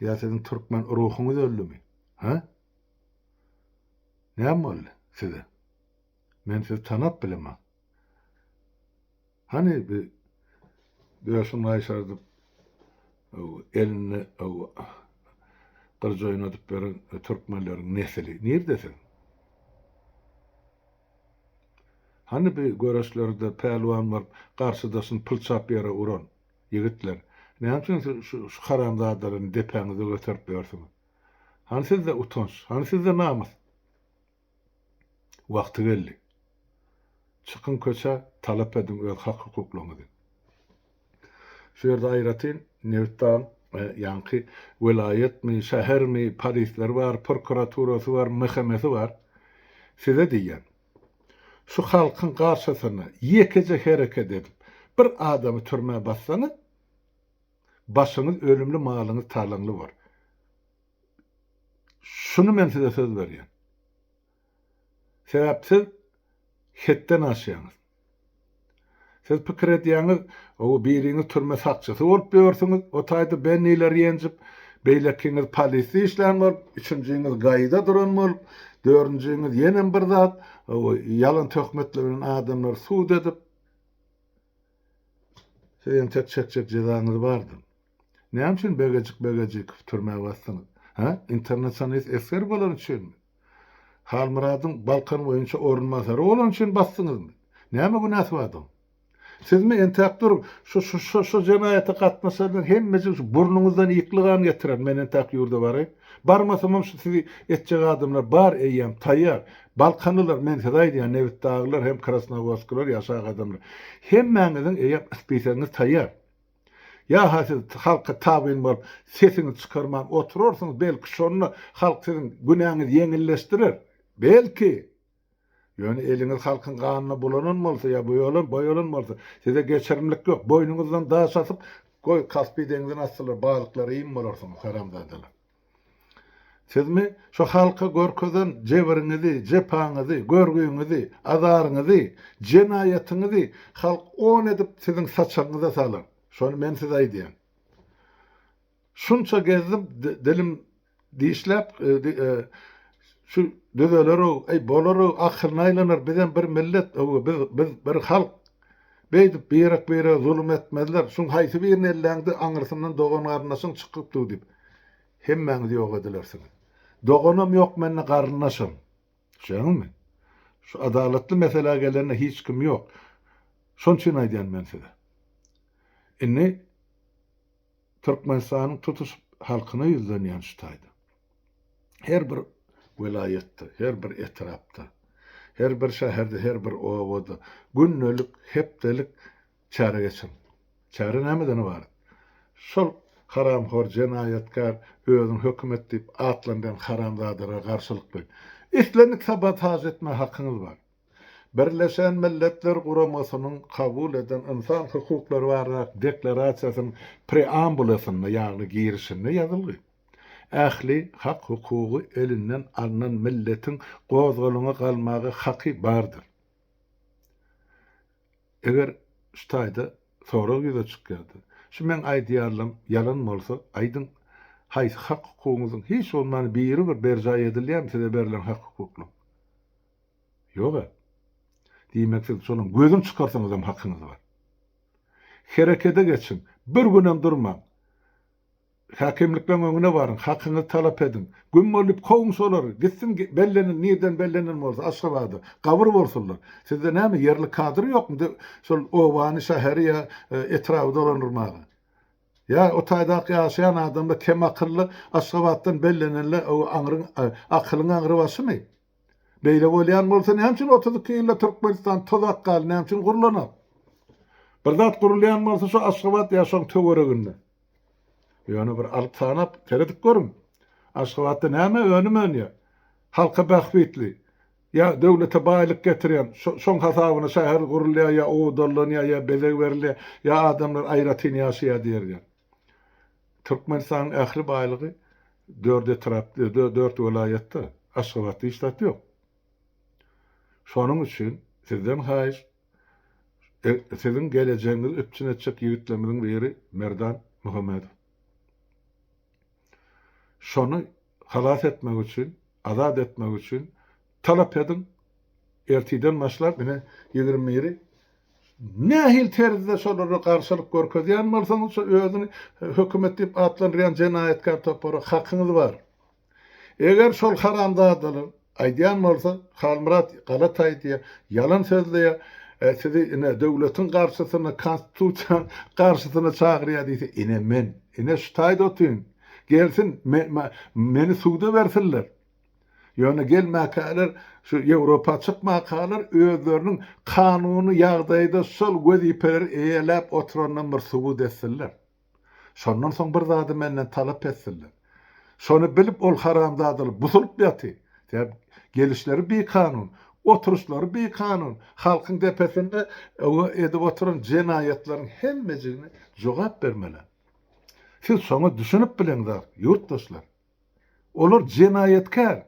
Ýa siziň türkmen ruhuňyz öldümi? Hä? Näme boldy size? Men sizi tanap bilemok. Hany bi döşüň gaýşardyp elinde gylyj oýnadyp ýören türkmenleriň nesili nirde siziň? Hany bi göreşlerde pälwan bolup garşydaşyny pylçap ýere uran, ýigitler? Näme üçin siz şu haramzadalaryny depäňize göterip ýörsüňiz? Hany sizde utanç, hany sizde namys? Wagty geldi. Çykyň köçä, talap ediň öz hak-hukuklaryňyzy. Şu ýerde aýratyn Nebit dagyň ýaňky welaýatmy, şähermi, polisleri bar, prokuraturasy bar, MHM-si bar. Size diýýän, şu halkyň garşysyna ýekeje hereket edip, bir adamy türmä bassaňyz, başyňyz ölümli, malyňyz talaňly bor. Şuny men size söz berýän. Sebäp siz hetden aşýaňyz. Siz pikir edýäňiz, ow biriňiz türme sakçysy bolup ýörsüňiz, o taýda Benniler ýenjip, beýlekiňiz polisde işlän bolup, üçünjiňiz gaýyda duran bolup, dördünjiňiz ýenem bir zat, ow ýalan töhmetler bilen adamlary sud edip, siz entek çekjek jezaňyz bardyr. Näme üçin Begejik Begejikowy türmä basdyňyz? Hä? Internasionalist esger bolany üçinmi? Halmyradyň Balkan boýunça orunbasary bolany üçin basdyňyzmy? Näme günäsi bar adyň? Sizmi, entäk duruň, şu, şu, şu, şu jenaýata gatnaşanlaryň hemmejigi şu burnuňyzdan ýykly gan getiren, men entäk ýurda baraýyn. Barmasamam şu sizi etjek adamlar bar, eýýäm, taýýar. Balkanlylar, men size aýdýan, nebitdaglylar hem krasnowodskiler ýaşak adamlar. Hemmäňiziň eýýäm spisegiňiz taýýar. Ýa-ha siz halka tabyn bolup, sesiňizi çykarman oturarsyňyz, belki şonda halk siziň günäňizi ýeňilleşdirer? Belki! Ýöne eliňiz halkyň ganyna bulanan bolsa ýa boýalan, boýalan bolsa, size geçirimlik ýok, boýnuňyzdan daş asyp, goý, Kaspiý deňzine atsylar, balyklara iým bolarsyňyz, haramzadalar! Sizmi şu halka görkezen jebiriňizi, jepaňyzy, görgüňizi, azaryňyzy, jenaýatyňyzy halk on edip siziň saçagyňyza salar. Şony men size aýdýan. Şunça gezdim, dilim dişläp, şu düzeler-ow, eý, bolar-ow, akylyna aýlanar, bizem bir millet, öw, biz, biz bir halk. Beýdip, birek-birege zulum etmezler. Şuň haýsy birini elläňde, aňyrsyndan dogan-garyndaşyň çykyp dur diýip, hemmäňiz ýok edilersiňiz. Doganam ýok mende, garyndaşam. Düşýäňizmi? Şu adalatly meselä gelende hiç kim ýok. Şon üçin aýdýan men size. Indi. Türkmenistanyň tutuş halkyna ýüzlenýän şu taýda. Her bir welaýatda, her bir etrapda, her bir şäherde, her bir obada gündelik, hepdelik çäre geçiriň. Çäre nämeden ybarat? Şol haramhor, jenaýatkär, özüni hökümet diýip atlandyrýan haramzadalara garşylyk goýuň. Islendik sabotaž etmäge hakyňyz bar. Birleşen Milletler Guramasynyň kabul eden Ynsan hukuklary baradaky Deklarasiýasynyň preambulasynda, ýagny girişinde ýazylgy, Ähli hak-hukugy elinden alnan milletiň gozgalaňa galmaga haky bardyr. Eger şu taýda sorag ýüze çykýarda, şu meň aýdýarlam ýalan bolsa, aýdyň, haýsy hak-hukugyňyzyň hiç bolmanda biri bir berjaý edilýärmi size berlen hak-hukuklaryň? Ýog-a. Diýmek, siz şonuň gözüni çykarsaňyzam hakyňyz bar. Herekete geçiň, bir günem durmaň. Häkimlikleň öňüne baryň, hakyňyzy talap ediň. Güm bolup kowuň şolary, gitsin bellenen, nirden bellenen bolsa, Aşgabada, gabyr bolsunlar. Sizde näme, ýerli kadr ýokmy şol obany, şäheri ýa etraby dolandyrmaga? Ýa o taýdaky ýaşaýan adamlar kem akylly, Aşgabatdan bellenenler aňryň, akylyň aňry başymy? Beýle bolýan bolsa näme üçin otuz iki ýylda Türkmenistan toz akgaly näme üçin gurlanak? Bir zat gurulýan bolsa şu Aşgabat ýa şoň töwereginde. Ýöne bir alyp sanap seredip görüň. Aşgabatda näme önüm önýär? Halka bähbitli ýa döwlete baýlyk getirýän şoň hasabyna şäher gurulýar ýa owadanlanýar ýa bezeg berilýär ýa adamlar aýratyn ýaşaýar diýerýär. Türkmenistanyň ähli baýlygy dört etrap, dört welaýatda, Aşgabatda hiç zat ýok. Şonuň üçin sizden haýyş, siziň gelejegiňizi üpjün etjek ýigitlerimiziň biri Merdan Muhammedow. Şony Halas etmek üçin, azat etmek üçin talap ediň. Ertiden başlap, ine, ýigrimi biri nähili terzde şolara garşylyk görkezýän bolsaňyz, şo özüni hökümet diýip atlandyrýan jenaýatkär topara hakyňyz bar. Eger şol haramzadalar, Aýdýan bolsa Halmyrat galataý diýýä ýalan sözleýä sizi ine döwletiň garşysyna konstitusiýaň garşysyna çagyrýa diýse ine men ine şu taýda otyryn gelsin meni suda bersinler ýöne gelmäkäler şu ýewropa çykmakalar özleriniň kanuny ýagdaýda şol wezipeleri eýeläp oturandan bir subut etsinler. Şondan soň bir zady menden talap etdiler. Şony bilip ol haramzadalar busulyp ýaty ýar, gelişleri bikanun, oturyşlary bikanun, halkyň depesinde öňe edip oturan jenaýatlaryň hemmejigine jogap bermelen. Siz şoňa düşünip bileňzar, ýurtdaşlar. Olar jenaýatkär.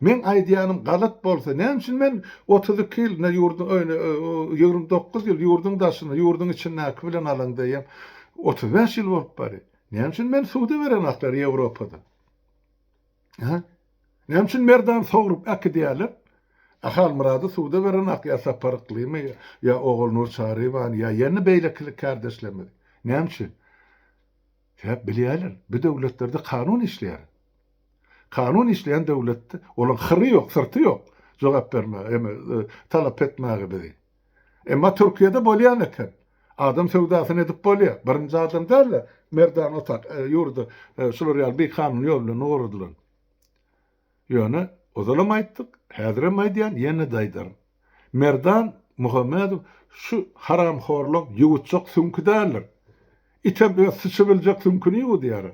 Meň aýdýanym galat bolsa, näme üçin men otuz iki ýyl ine ýurduň öýüne, ýigrimi dokuz ýyl ýurduň daşyny, ýurduň içindäki bilen alaň diýýän, otuz bäş ýyl bolup bary. Näme üçin meni suda berenaklar Ýewropada? Hä? Näme üçin Merdan sogrup äkidýärler? A Halmyrady suda berenak ýa Sapar Yklymy ýa Ogulnur Çarybany ýa ýene beýlekilik kärdeşlerimizi. Näme üçin? Sebäp bilýärler, bu döwletlerde kanun işleýär. Kanun işleýän döwletde olaň hyry ýok, syrty ýok jogap bermäge, eme talap etmäge bizi. Emma Türkiýede bolýan eken. Adam söwdasyny edip bolýar. Birinji adam däl-de, Merdan Otak ýurdy şular ýaly bikanun ýol bilen ugradylan. Ýöne ozalam aýtdyk, häzirem aýdýan, ýene-de aýdaryn. Merdan Muhammedow şu haramhorlyk ýuwutjak süňki däldir. Item öz syçybiljek süňkini ýuwudýar.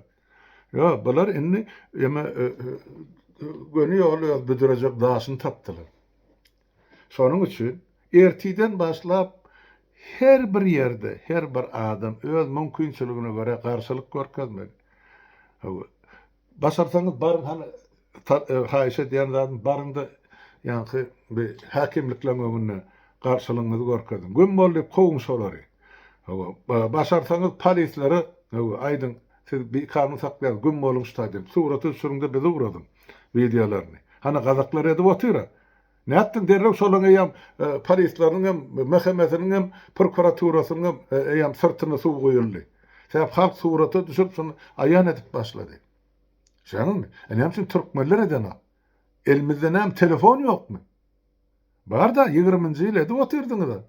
Ýo, bular indi eme göni ýoly öz büdürejek daşyny tapdylar. Şonuň üçin ertiden başlap her bir ýerde her bir adam öz mümkinçiligine görä garşylyk görkezmeli. Başarsaňyz baryň hany haýyş edýän zadym baryňda ýaňky bi häkimlikleň öňünde garşylygyňyzy görkeziň. Güm bol diýip kowuň şolary. Hawa, başarsaňyz polislere hawa aýdyň siz bi kanun saklaýaňyz güm boluň şta diýip surata düşüriňde bizi ugradyň wideolaryny. Hany gazaklar edip otyra. Nätdiň derrew şolaň eýýäm polislaryň hem mhmsiniň hem prokuraturasynyň hem eýýäm syrtyna suw guýuldy. Sebäp halk surata düşürip şony aýan edip başlady. Şaňymy? E näme üçin türkmenler edenok? Elimizde näme telefon ýokmy? Barda ýigriminji ýyl edip otyrdyňyza.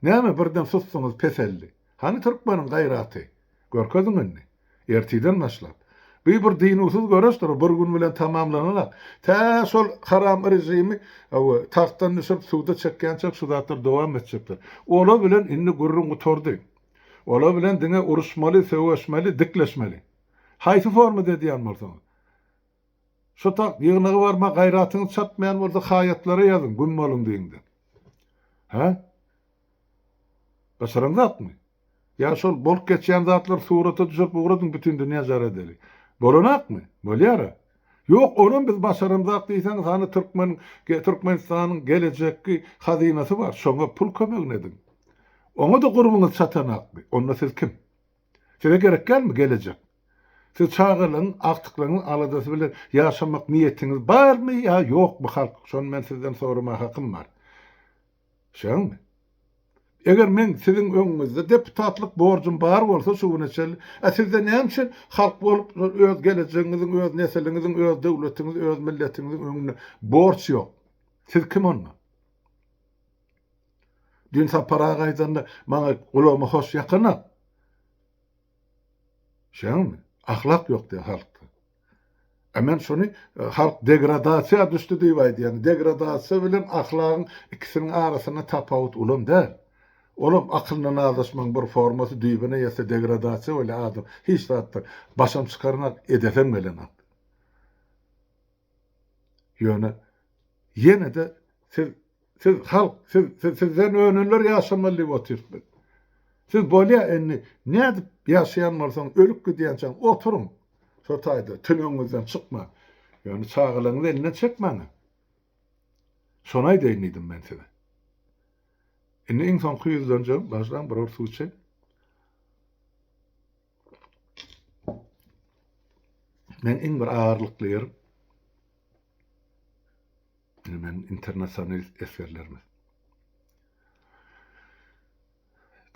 Näme birden susduňyz peseldi. Hany türkmeniň gaýraty? Görkeziň indi. Ertiden başlap. Bu bir dynuwsyz göreşdir, bir gün bilen tamamlanalak. Tä şol haram režimi hawa, tagtdan düşürip suda çekýänçäk şu zatlar dowam etjekdir. Olar bilen indi gürrüň gutardy. Olar bilen diňe uruşmaly, söweşmeli, dikleşmeli. Haýsy formada edýän bolsaňyz. Şu tak ýygnagy barma gaýratyňyz çatmaýan bolsa haýatlara ýazyň güm boluň diýiň diýip. Hä? Başaran zatmy? Ýa şol bolup geçýän zatlary surata düşürip ugradyň bütin dünýä jar edeli. Bolanakmy? Bolýara. Ýok onam biz başaramzak diýseňiz hany türkmen Türkmenistanyň gelejekki hazynasy bar şoňa pul kömegini ediň. Oňa-da gurbyňyz çatanakmy? Onda siz kim? Size gerek dälmi gelejek? Siz çagalaryň, agtyklaryňyň aladasy bilen ýaşamak niýetiňiz barmy ýa ýokmy halk? Şony men sizden soramaga hakym bar. Şeňmi? Eger meň siziň öňüňizde deputatlyk borjum bar bolsa şu güne çenli, a sizde näme üçin halk bolup öz gelejegiňiziň, öz nesiliňiziň, öz döwletiňiz, öz milletiňiziň öňünde borç ýok? Siz kim onda? Düýn Sapar aga aýdanda, maňa gulagyma hoş ýakanok. Şeňňämi? Ahlak ýok diýýä halkda. A men şony halk degradasiýa düşdi diýip aýdýan. Degradasiýa bilen ahlagyň ikisiniň arasynda tapawut ulam däl. Olam akylna nazaşmagyň bir formasy düýbüne ýetse degradasiýa bolýar adam hiç zatdan başam çykarmak edesem gelenok. Ýöne ýene-de siz siz halk siz siz sizden önenler ýaşamaly diýip otyryp biz. Siz bolýa indi nädip ýaşaýan bolsaň ölüp gidýänçäň oturyň şo taýda tüneňiňizden çykman. Ýöne çagalaryňyzy elinden çekmäň-ä. Şony aýdaýyn diýdim men size. Indi iň soňky ýüzlenjegim baždaň bir ur suw içeýin. Men iň bir agyrlykly ýerim, indi men internasionalist esgerlerimiz.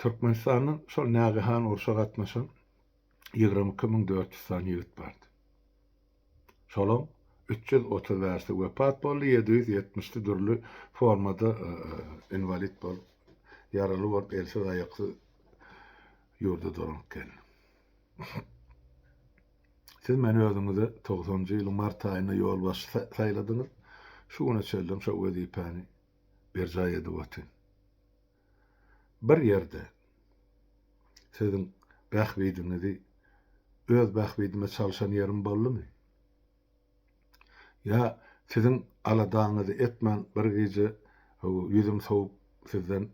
Türkmenistandan şol nägehan urşa gatnaşan ýigrimi iki müň dört ýüz sany ýigit bardy. Şolaň üç ýüz otuz bäşisi wepat boldy, ýedi ýüz ýetmişisi dürli formada inwalid bolup, ýaraly bolup, elsiz-aýaksyz ýurda dolanyp geldi. Siz meni özüňize togsanjy ýylyň mart aýynda ýolbaşçy saýladyňyz, şu güne çenli hem şo wezipäni berjaý edip otyryn. bir ýerde siziň bähbidiňizi öz bähbidime çalşan ýerim boldumy? Ýa siziň aladaňyzy etmän bir gije ýüzüm sowup sizden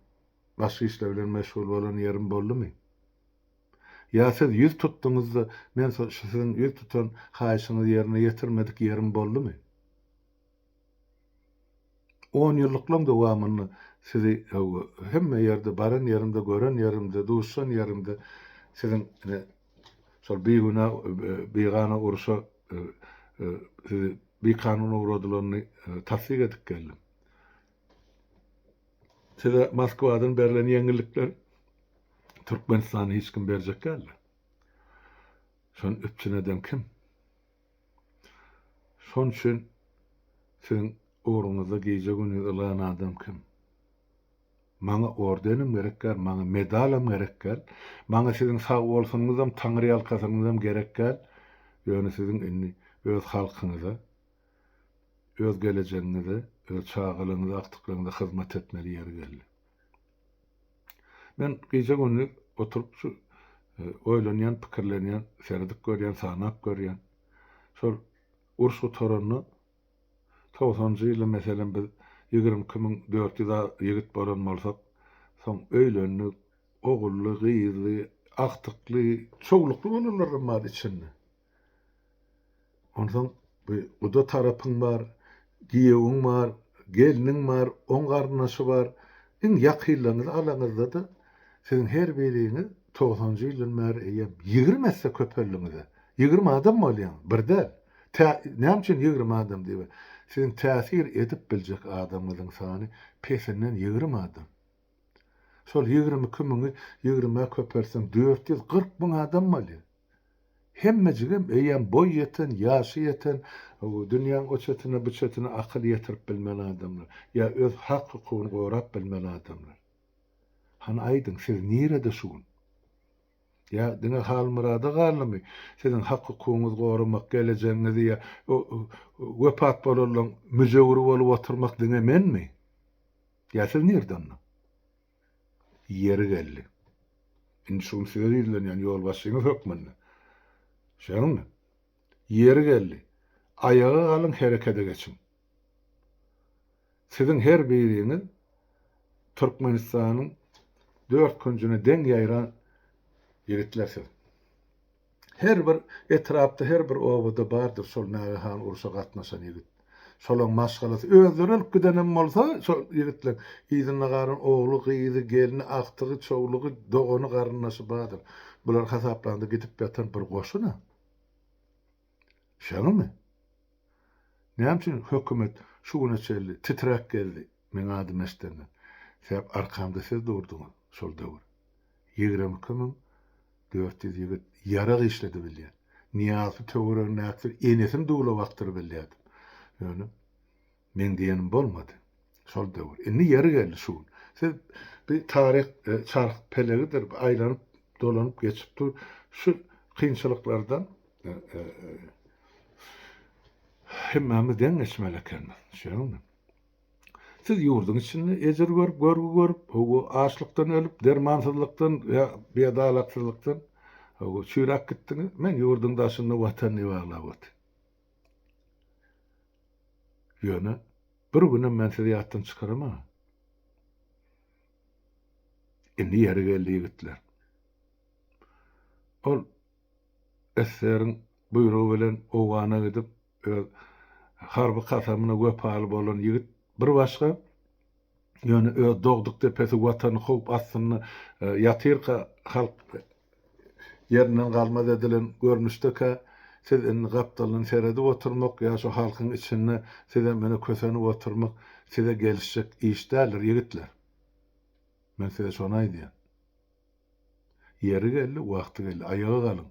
başga işler bilen meşgul bolan ýerim boldumy? Ýa siz ýüz tutduňyzda men şu siziň ýüz tutan haýyşyňyzy ýerine ýetirmedik ýerim boldumy? Onýyllyklaň dowamynda sizi hemme ýerde, baran ýerimde, gören ýerimde, duşan ýerimde siziň şol bigünä, bigana urşa sizi bikanun ugradylanyny tassyk edip geldim. Size Moskwadan berlen ýeňillikleri Türkmenistana hiç kim berjek däldir. Şony üpjün eden kim? Şon üçin siziň ugruňyzda gije-gündiz ylgan adam kim? Maňa ordenem gerek däl, maňa medalam gerek däl, maňa siziň sag bolsunyňyzam, taňryýalkasynyňyzam gerek däl, ýöne siziň indi öz halkyňyza, öz gelejegiňize, öz çagalaryňyza, agtyklaryňyza hyzmat etmeli ýeri geldi. Men gije-gündiz oturyp şu oýlanýan, pikirlenýän, seredip görýän, sanap görýän. Şol uruş gutaranda, togsanjy ýyly meselem biz ýigrimi iki müň dört ýüz ýigit bolan bolsak, soň öýlendik, ogully, gyzly, agtykly, çowlukly bolanlaram bar içinde. Onsoň bu guda tarapyň bar, giýewiň bar, gelniň bar, oň garyndaşy bar. Iň ýakynlaryňyzy alaňyzda-da, siziň her biriňiz togsanjy ýyldan bäri eýýäm ýigrimi esse köpeldiňiz-ä. Ýigrimi adam bolýaňyz, bir däl. Tä, näme üçin ýigrimi adam diýip, siziň täsir edip biljek adamyňyzyň sany pesinden ýigrimi adam. Şol ýigrimi iki müňi ýigrimä köpeltseň dört ýüz kyrk müň adam bolýar. Hemmejigem eýýäm boý ýeten, ýaşy ýeten, dünýäň o çetine, bu çetine akyl ýetirip bilmän adamlar, ýa öz hak-hukugyny gorap bilmän adamlar. Hany aýdyň, siz nirede şu gün? Ýa diňe Halmyrada galdymy siziň hak-hukugyňyzy goramak, gelejegiňizi ýa wepat bolanlaryň müjewüri bolup oturmak diňe menmi? Ýa siz nirde onda? Ýeri geldi. Indi şu gün size ýüzlenýän ýolbaşçyňyz hökmünde. Şeňňe. Ýeri geldi. Aýaga galyň herekede geçiň. Siziň her biriňiz Türkmenistanyň dört künjüne deň ýaýran ýigitler siz. Her bir etrapda her bir obada bardyr şol nagahan urşa gatnaşan ýigit. Şolaň maşgalasy özleri ölüp gidenem bolsa şol ýigitleň yzynda galan ogly, gyzy, gelni, agtygy, çowlugy, dogany, garyndaşy bardyr. Bular hasaplanda gidip ýatan bir goşun-a. Şeňňimi? Näme üçin hökümet şu güne çenli titräp geldi? Meň adym Eşdermen. Sebäp arkamda siz durduňyz şol döwür. Ýigrimi iki müň dört ýüz ýigit ýarag işledi bilýän. Nyýazy töweregindäkiler enesini duwlap akdyryp bilýärdim. Ýöne meň diýenim bolmady şol döwür. Indi ýeri geldi şu gün. Siz bi taryh çarh pelegidir, bi aýlanyp dolanyp geçip dur. Şu kynçylyklardan hemmämiz deň geçmeli ekenmiz. Şeýdimi? Siz ýurduň içinde ejir görüp, görgi görüp, hawa, açlykdan ölüp, dermansyzlykdan ýa biadalaksyzlykdan, hawa, çüýräp gitdiňiz. Men ýurduň daşynda Watan diýip aglap otyryn. Ýöne bir günem men sizi ýatdan çykaramagan. Indi ýeri geldi, ýigitler. Ol Esseriň buýrugy bilen Owgana gidip, öz harby kasamyna wepaly bolan ýigit bir başga, ýöne öz dogduk depesi Watany howp astynda ýatyrka halk ýerinden galmaz edilen görnüşdekä, siz indi gapdaldan seredip oturmak ýa şu halkyň içinde sizem ine kösenip oturmak size gelişjek iş däldir, ýigitler. Men size şony aýdýan. Ýeri geldi, wagty geldi, aýaga galyň.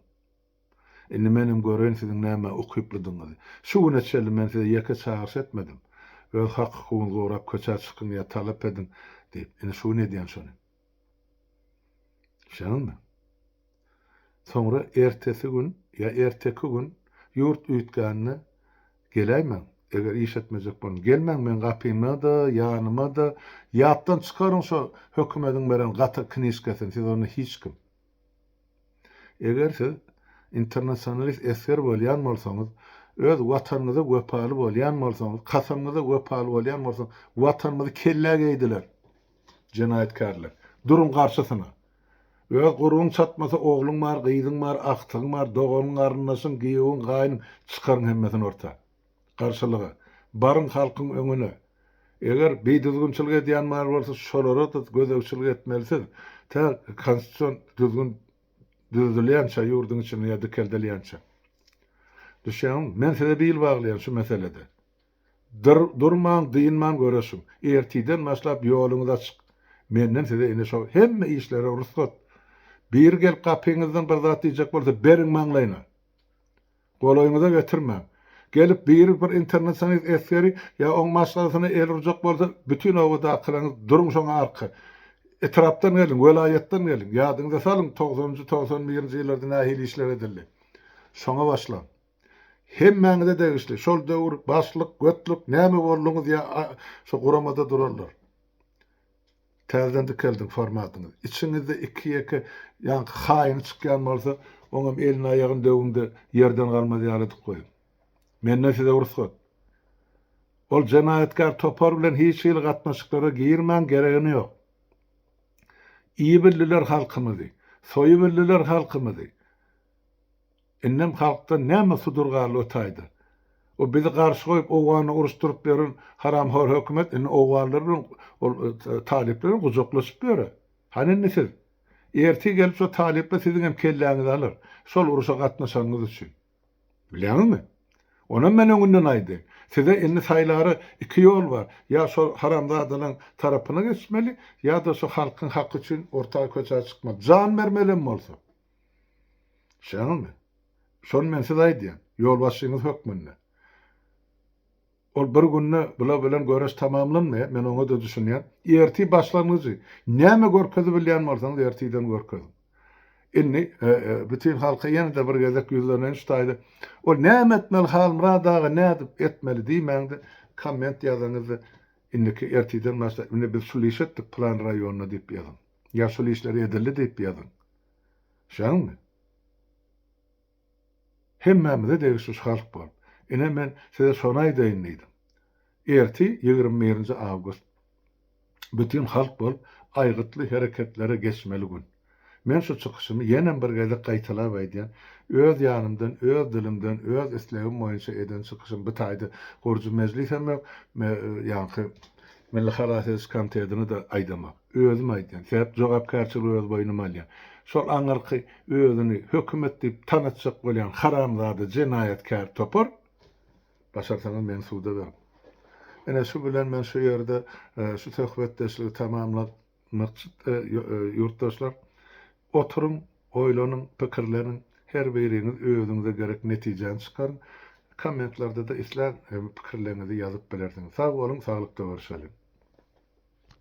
Indi menem göreýin siziň nämä ukyplydygyňyzy. Şu güne çenli men size ýeke çagyryş etmedim. Öz hak-hukugyňyzy gorap köçä çykyň ýa talap ediň diýip. Indi şu gün edýän şony. Düşdüňizmi? Soňra ertesi gün ýa erteki gün ýurt üýtgände Geläýmäň, eger iş etmejek boluň, gelmäň meň gapyma-da, ýanyma-da, ýatdan çykaryň şo hökümediň beren gatyr knižkasyny, siz onda hiç kim. Eger siz internasionalist esger bolýan bolsaňyz, öz Watanyňyza wepaly bolýan bolsaňyz, kasamyňyza wepaly bolýan bolsaňyz, Watanymyzy kellä geýdiler, jenaýatkärler. Duruň garşysyna! Öz gurbuň çatmasa ogluň bar, gyzyň bar, agtygyň bar, doganyň, garyndaşyň, giýewiň, gaýnyň, çykaryň hemmesini orta. Garşylyga. Baryň halkyň öňüne. Eger bidüzgünçilik edýän bar bolsa şolara-da gözegçilik etmelisiz, tä konstitusion düzgün düzedilýänçä ýurduň içinde ýa dikeldilýänçä. Düşýäňizmi? Men size bil baglaýan şu meselede. Dur-durman, dynman göreşiň. Ertirden başlap ýoluňyz açyk. Menden size ine şo hemme işlere rugsat. Biri gelip gapyňyzdan bir zat diýjek bolsa, beriň maňlaýyna. Golaýyňyza getirmäň. Gelip biri bir internasionalist esgeri ýa oň maşgalasyna el urjak bolsa, bütin obadakylaryňyz duruň şoňa arka. Etrapdan geliň, welaýatdan geliň. Ýadyňyza salyň, togsanynjy, togsan birinji ýyllarda nähili işler edildi. Şoňa başlaň. Hemmäňize degişli, şol döwür başlyk, götlük, näme bolduňyz ýa şo guramada durarlar. Täzeden dikeldiň formatyňyzy. Içiňizde iki-ýeke ýaňky haýyny çykýan bolsa, oňam elini-aýagyny döwüň-de ýerden galmaz ýaly edip goýuň. Menden size rugsat. Ol jenaýatkär topar bilen hiç hili gatnaşyklara girmäň, geregem ýok. Iýibildiler halkymyzy, soýubildiler halkymyzy. Indem halkdan näme sudur galdy o taýda? O bizi garşy goýup owgany uruşdyryp ýören haramhor hökümet indi owganlar bilen ol talyplar bilen gujaklaşyp ýöre. Hany indi siz? Ertir gelip şo talyplar siziňem kelläňizi alar, şol uruşa gatnaşanyňyz üçin. Bilýäňizmi? Onam men öňünden aýdaýyn. Size indi saýlara iki ýol bar, ýa şol haramzadalaň tarapyna geçmeli, ýa-da şu halkyň haky üçin orta köçä çykmaly. Jan bermelem bolsa. Şeňňimi? Şony men size aýdýan, ýolbaşçyňyz hökmünde. Ol bir günde bular bilen göreş tamamlanmaýar, men oňa-da düşünýän. Ertir başlangyjy, näme görkezibilýän bolsaňyz ertirden görkeziň. Indi bütin halka ýene-de bir gezek ýüzleneýin şu taýda. Ol näme etmeli Halmyrat aga, nädip etmeli diýmäň-de, komment ýazaňyz-da, indiki ertirden başlap, indi biz şul işi etdik, pylan raýonda diýip ýazyň. Ýaşuly işler edildi diýip ýazyň. Şäňmi? Hemmämize degişli şu halk bolup. Ine men size şony aýdaýyn diýdim. Erti ýigrimi birinji awgust. Bütin halk bolup aýgytly hereketlere geçmeli gün. Men şu çykyşymy ýenem bir gezek gaýtalap aýdýan, öz ýanymdan, öz dilimden, öz islegim boýunça eden çykyşym bu taýda gurujy mejlisem ýok, ýaňky Milli halas ediş komitetini-de aýdamok. Özüm aýdýan, sebäp jogapkärçiligi öz boýnuma alýan. Şol aňyrky özüni hökümet diýip tanatjak bolýan haramzada jenaýatkär topar, başarsaňyz meni suda beriň. Ine şu bilen men şu ýerde şu söhbetdeşligi tamamlamakçy ýurtdaşlar. Oturyň, oýlanyň, pikirleniň, her biriňiz özüňize gerek netijäni çykaryň. Kommentlarda-da islän pikirleriňizi ýazyp bilersiňiz. Sag boluň, saglykda görüşeliň.